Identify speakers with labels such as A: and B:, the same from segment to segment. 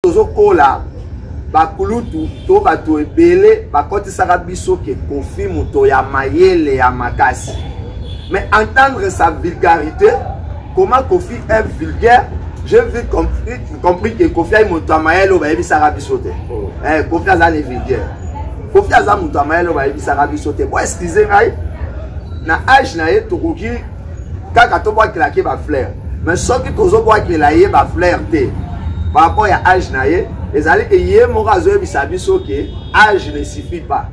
A: tozokola bakulutu to bato ebele bakotisaka biso ke kofi moto ya mayele ya makasi mais entendre sa vulgarité comment kofi est vulgaire j'ai vu compris, compris que kofi ayi moto ya mayele oyo bayebisaka biso te oh. eh, kofi aza ne vulgaire kofi aza moto ya mayele oyo bayebisaka biso te bo excuse ngai na age na ye tokoki kaka tobwakela ke bafleur mais soki tozobwakela ye bafleur te par rapport ya age na ye ezali ke ye moko azoyebisa biso ke age ne suffit pas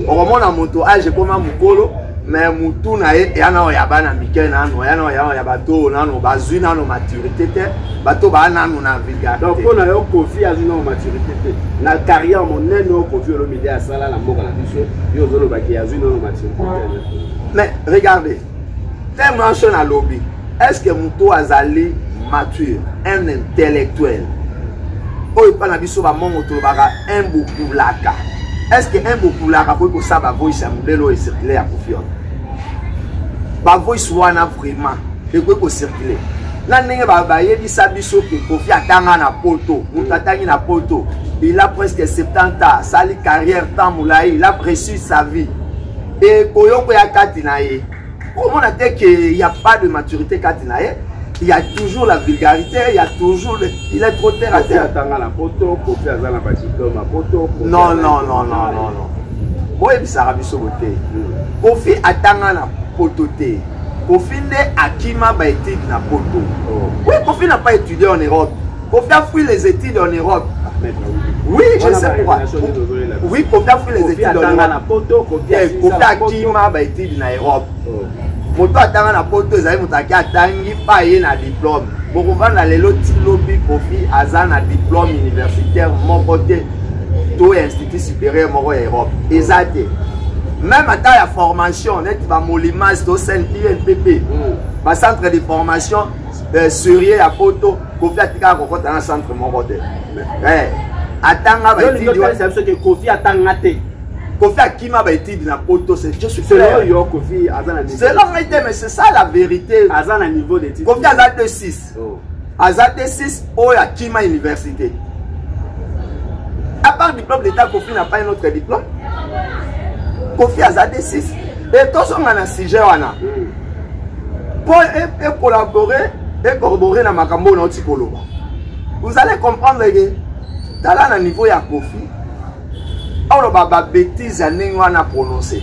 A: okomona moto age ekoma mokolo mais mutu na ye eya nano ya bana mike nano eya nano yano ya bato oyo nano bazwi nano maturité te bato baa nano na vulgarité mpo na yo kofi
B: azwi nano maturité te na carrière monene oyo kofi olomide asala na mboka na biso yo ozolobaki azwi nano maturité te mais regardez
A: te manso na lobi est ce que moto azali mature un intellectuel oyo epai na biso bamongo tolobaka un bokulaka est ce que un bokulaka akoki kosala bavoice ya modele oyo ecircule ya kofiona bavoice wana vraiment ekoki kocircule na ndenge bayebisa biso ke kofi atanga na poto moto atangi na poto il a presque 70 ans asali carrière temps molai il a précise sa vie ekoyoko ya kati na ye omona te ke ya pas de maturité kati na ye il y a toujours la vulgarité, il y a toujours le... il est trop terre à terre. Non, non, non, non, non, non. Moi, je suis biso bote. Kofi atanga na poto te. Kofi nde akima ba études na poto. Oh. Oui, Kofi n'a pas étudié en Europe. Kofi a fui les études en Europe. Oui, je sais pourquoi. Oui, Kofi a fui les études en Europe. Kofi a kima ba études na Europe. Oh. moto atanga na poto ezali moto ake atangi pa ye na diplome bokovanda lelo ti lobi kofi aza na diplome universitaire moko te to ya institut supérieur moko ya europe eza te même ata ya formation neti bamolimas to cnpnpp mm. bacentre de formation eh, serieux ya poto kofi atikaka kokota na centre moko te eh, atanga baetudiolakisa biso ke kofi
B: atanga te kofi akima
A: baetude na poto yo kofi
B: aza na selon ngai te mais c'est ça
A: la vérité aza na niveau d'étude
B: kofi aza 26 oh.
A: aza 26 oyo akima université à part diplôme d'état kofi na pas un autre diplôme kofi aza 26 Et tozonga na sujet wana. Mpo e, e collaborer et corroborer na makambo na oti koloba. Vous allez comprendre que tala na niveau ya Kofi oloba ba bêtises ya ndenge wana prononcer.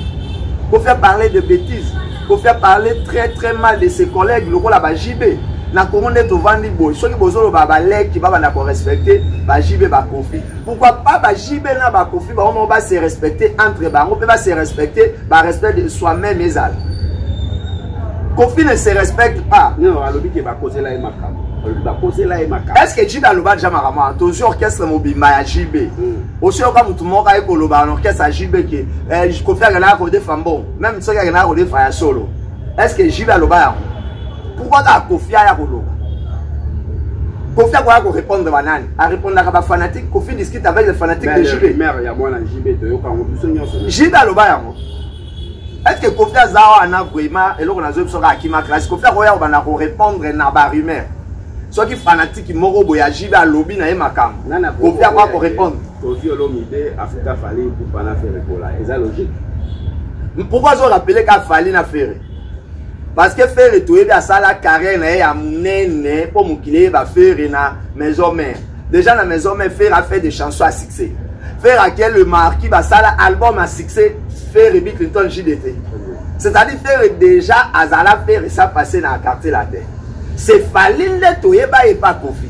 A: Kofi a parler de bêtises. Kofi a parler très très mal de ses collègues lokola ba JB. na kongo nde tovandi boye soki bozoloba baleki babanda korespecte bajibe bakofi Pourquoi pas ba JB na ba Kofi ba on va se respecter entre bango pe va se respecter ba respect de soi-même ezal. Kofi ne se respecte pas. Non, alobi ke ba causer
B: la makambo. Ba causer la makambo.
A: Est-ce que JB aloba déjà makambo attention orchestre mobimba ya JB. Mm. Osi oka mutu moko aye koloba na orchestre ya JB ke eh, Kofi akenda ko defa mbongo. Même soki akenda ko defa ya solo. Est-ce que JB aloba yango? pourquoi kaka kofi aya koloba kofi akoya korépondre banani arépondaka bafanatique kofi discute avec le fanatique de jb
B: jb aloba yango
A: est-ce que kofi aza wana vraiment eloko nazoyi biso kaka kima classe kofi akoya kobanda korépondre na barumeur soki fanatiki moko boye ajibe alobi na ye makambo kofi akoya korépondre kofi olomide
B: afuta fali kupana ferre kola eza logique
A: pourquoi azo rappele ka fali na ferre parce que ferre toyebi asala carrière na ye ya monene mpo mokili eyeba ferre na maison mère déjà na maison mère ferre afait des chansons à succès ferre akie le marquis basala album à succès ferre bi clinton jdt c'est-à-dire ferre déjà azala ferre sa passé na quartier latin c'est fali nde toyeba ye pa kofi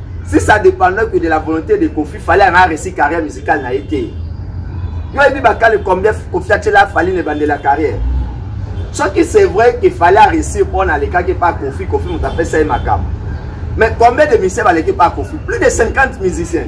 A: si ça dépendait que de la volonté de kofi fallait anga réussi carrière musicale na ye te yo oyebi bakale combien kofi atyela fali na ebandela carrière soki c'est vrai que fallait aréussir mpo na alekaki pa kofi kofi moto apesa ye makambo mais combien de musicien baleki pa kofi plus de 50 musiciens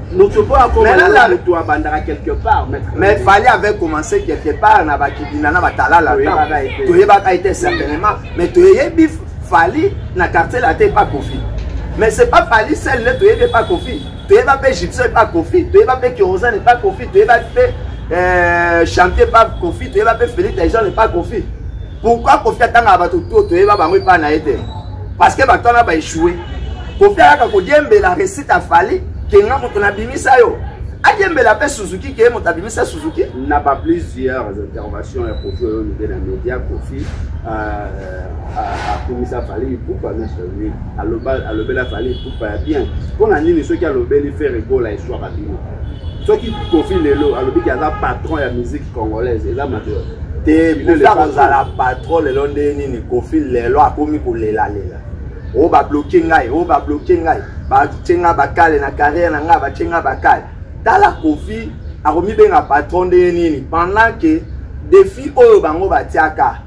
B: moto mpo akomana moto abandaka quelque part mais fali avait
A: commencé quelque part na bakidina na batalala toyebaka ete certainement mais toyebi fali na quartier late epa kofi mais c'est pas fali sel nde toyebi epa kofi toyeba mpe gypsio epa kofi toyeba mpe kerosane epa kofi toyeba mpe euh, chantier epa kofi toyeba mpe feli taison epa kofi pourquoi kofi atangaka bato to toyeba bango epai na ye te parce que bato wana baechoue kofi ayaka kodiembela recite afali kenga moto nabimisa yo adiembela mpe suzuki ke moto abimisa suzuki na ba plusieurs
B: intervention ya kofi oyo mide na media kofi akumisa fali ipupa nasoni alobela fali ipupa ya bien mpo na nini soki alobeli fere gola eswaka bino soki kofi lelo alobi ke aza patron ya musique congolaise eza mabe te kofi akozala
A: patron lelo nde nini kofi lelo akomi kolelalela oyo oh, babloke ngai oyo oh, babloke ngai batye ngai bakale na carrière na ngai batye ngai bakale tala kofi akomibenga patron nde nini pendant ke defi oyo bango batiaka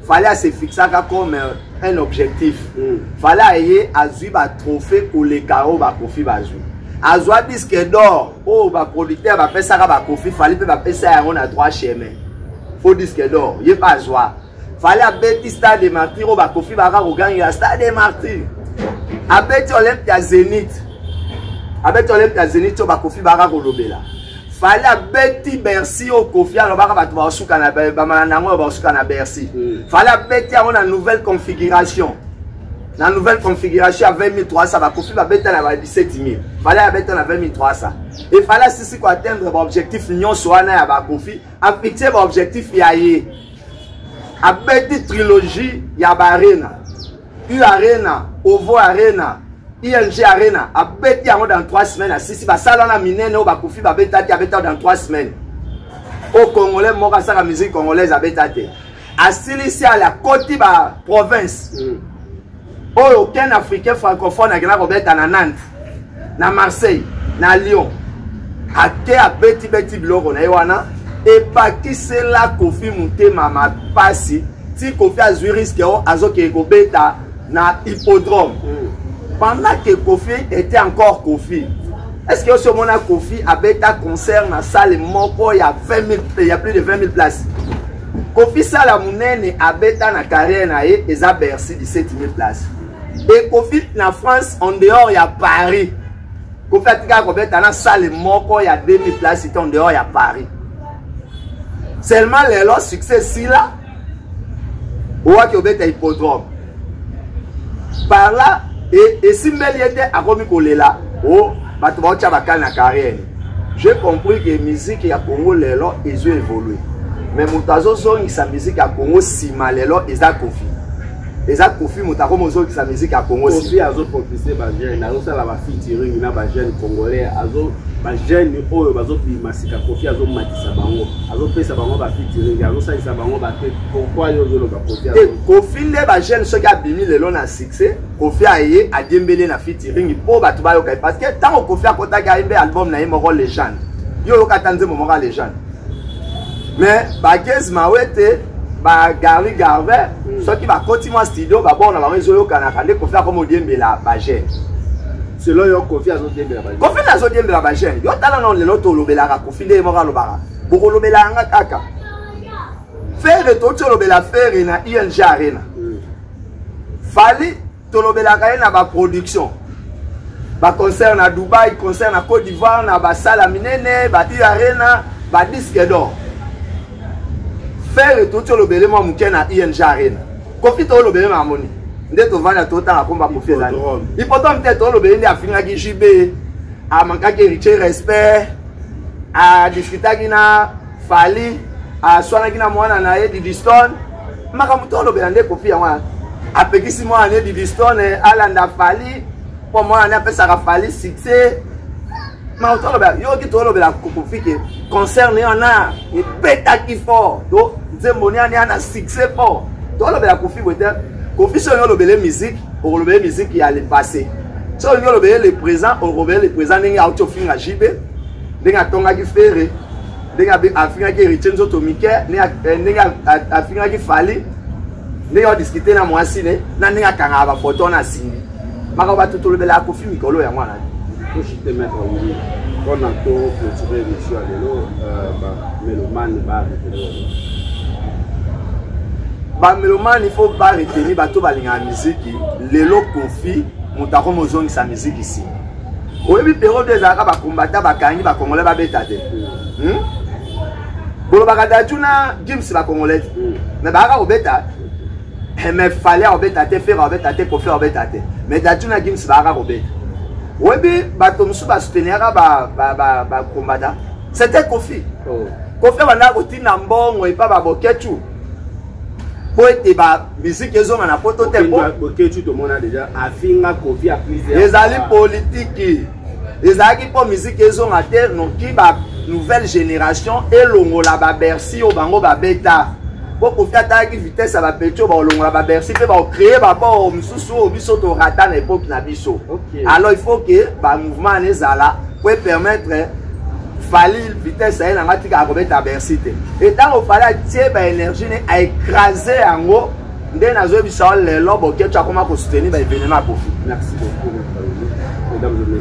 A: fale asefixaka comme euh, un objectif mm. fale aye azwi batrophée koleka oyo bakofi bazwi azwa disque d'or oyo baproducteur bapesaka bakofi fali mpe bapesa yango na droit chemin faux disque d'or ye mpe azwa fali abeti stade de martyr oyo bakofi baka kogangela stade de martyr abeti olympe ya zenith abeti olympe ya zenith oyo bakofi baka kolobela fali abeti bercy oyo kofi alobaka bato baosuka na bamana na yango oyo baosuka na bercy hmm. fali abeti yango na nouvelle configuration na nouvelle configuration ya 20300 bakofi babeta na ba 17000 fale abeta na 20300 efale asisi koatteindre baobjectif nyonso wana ya bakofi afixe baobjectif ya ye abeti trilogie ya baarena u arena ovo arena ing arena abeti yango dans 3 semaines asisi basala wana minene oyo bakofi babeta te abeta dans 3 semaines oyo congolais moko asaka musique congolaise abeta te asilisi ale akoti ba province mm. oyo aucun africain francophone akenda kobeta na nantes na marseille na lyon ake abetibeti biloko na ye wana ebakisela kofi motema mapasi ti kofi azwi riske oyo azokende kobeta na hippodrome mm. pendant que kofi était encore kofi est ce que osi omona kofi abeta concert na salle moko ya 20 000, ya plus de 20 000 places Kofi sala munene abeta na carrière na ye eza Bercy 17000 places. Et Kofi na France en dehors ya Paris. Kofi atika kobeta na salle moko ya 2000 places en dehors ya Paris. Seulement lelo succès sila oaki obeta hippodrome. par là esimbeli ye te akomi kolela o oh, bato baotya bakali na carrière j'ai compris que musique ya congo lelo ezo évolue mais moto azozongisa musique ya congo nsima lelo eza kofi eza kofi moto akomi ozongisa musique ya congo kofi azopropise
B: bajeune azosala bafitiring na bajeune congolais azo bajeune oyo bazobima sika kofi azomatisa bango azopesa bango bafitiring azosalisa bango bate pourquoi yo ozoloba kofi te kofi nde bajeune
A: soki abimi lelo na succès kofi aye adiembele na fitiringi mpo bato bayoka ye parce que ntango kofi akotaki ayembe album na ye moko legende yo oyoka ata nzembo moko ya legende mais bakezi mawete bagari garve hmm. soki bakoti mwa studio babor na bango ezoyokanaka nde kofi akoma odiembela bajeune selon
B: yo kofi azodiembela bajeune kofi nde azodiembela bajeune
A: yo tala nao lelo tolobelaka kofi nde ye moko alobaka bokolobelaka nga kaka Ferre touti olobela Ferre na ING Arena. Mm. Fally tolobelaka ye na ba production. Ba concert na Dubaï, concert na Côte d'Ivoire, na ba sala minene, ba U Arena, ba disque d'or. Ferre touti olobele mwa moke na ING Arena. Kofi to olobele ma moni. Nde tovanda totanga komba kofi ezali. Hippodrome te to olobele nde afingaki JB. Amankaki héritier respect. adiskitaki na fali aswanaki na mwana na ye didistone makambo to olobela nde kopi yango wana apekisi mwana na ye didistone alanda fali mpo mwana na ye apesaka fali succès makambo to olobela yoki to olobela kokofike concert ne wana ebetaki fort to nzembo niani ana succès fort to olobela kofi boye te Kofi soki olingi olobele musique okolobele musique ya le passé soki olingi olobele le présent okolobele le présent ndenge auti ofinga jb ndenge atongaki fere ndenge afingaki héritier nzoto mike eh, ndenge afingaki fali ndenge odiscute na mwasi ne na ndenge akangaka bafoto na simbi makambo bato tolobelaka kofi mikolo yango wana toshite maître
B: wili mpona to clôture émission ya lelo euh, bamelomane bareteni
A: bamelomane fo bareteni bato balingaka miziki lelo kofi moto akomi ozongisa miziki nsima oyebi periode ezalaka bakombata bakangi bakongole babeta te hmm? bolobaka daju na gims bakongole te hmm. me bayaka kobeta Eh, mais fale akobeta te fere akobeta te kofi akobeta te mais datu na gims baaka kobeta oyebi bato mosusu basouteniraka bakombata c'était kofi oh. kofi abandaka kotinda mbongo epa babokechu mpo ete bamiziki ezonga na poto te
B: ezali politiki
A: ezalaki mpo miziki ezonga te noki ba nouvelle génération elongola babersi oyo bango babeta mpo kofi atalaki vitesse ya bapeti oyo bakolongola babersi mpe bakocreye babor mosusu oyo biso torata na epoke na biso alors il faut ke bamouvement ana ezala mpo epermettre fali vitesse aye nanga tika akobeta bersi te etango fali atie baénergie ne aecrase yango nde nazoyebisa yo lelo boketch akoma kosoutenir baevenema ya kofi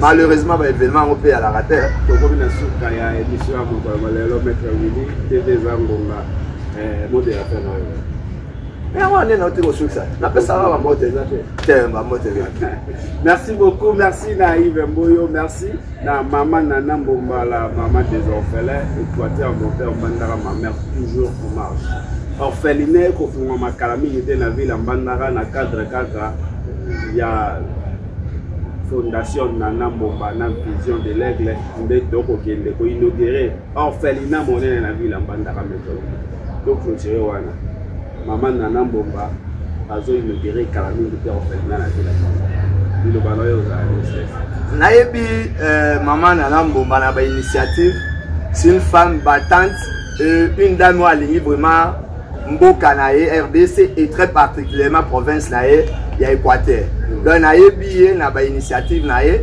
A: malheureusement baevenema yango mpe yalaka te tokomi na suka
B: ya émission ya mokolo malelo maître wili tv eza ngonga eh, mode ya fin nayo yango
A: ane na te kosukisa napesaka bambote te bambote merci
B: beaucoup merci na ive mboyo merci na mama nana mbombala mama des orphelins equateur monteur mbandaka ma mère toujours en marche orpheline ekofungwama kala mingi te na ville ya mbandaka na cadre kaka ya fondation nana mbomba na vision de l'aigle nde tokokende koinaugure orphelina monene na vila mbandaka metolo toclotire wana mama nana mbomba azoinogere kala mingi te orphelina na vila biloba na yo ozala ministres nayebi
A: euh, mama nana mbomba na bainitiative c'est une femme battante et une dame oyo alingi vraiment mboka na ye rdc et très particulièrement province na ye ya équateur donc nayebi ye na bainitiative na ye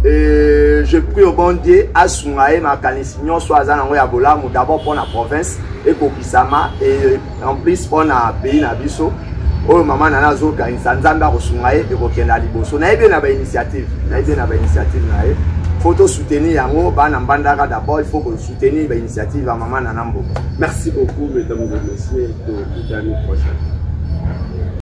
A: Euh, je prie au bon dieu asunga ye makanisi nyonso aza nango ya bolamu d'abord mpo na province ekokisama et en plus mpo na pays na biso oyo mama nana azokanisa nzambe akosunga ye ekokenda liboso nayebi ye na bainitiative nayebi ye na bainitiative na ye fo tosoutenir yango bana mbandaka d'abord il faut tenir ba initiative ya
B: mama
A: nana
B: mboka merci beaucoup mesdames et messieurs
A: tokutani prochaine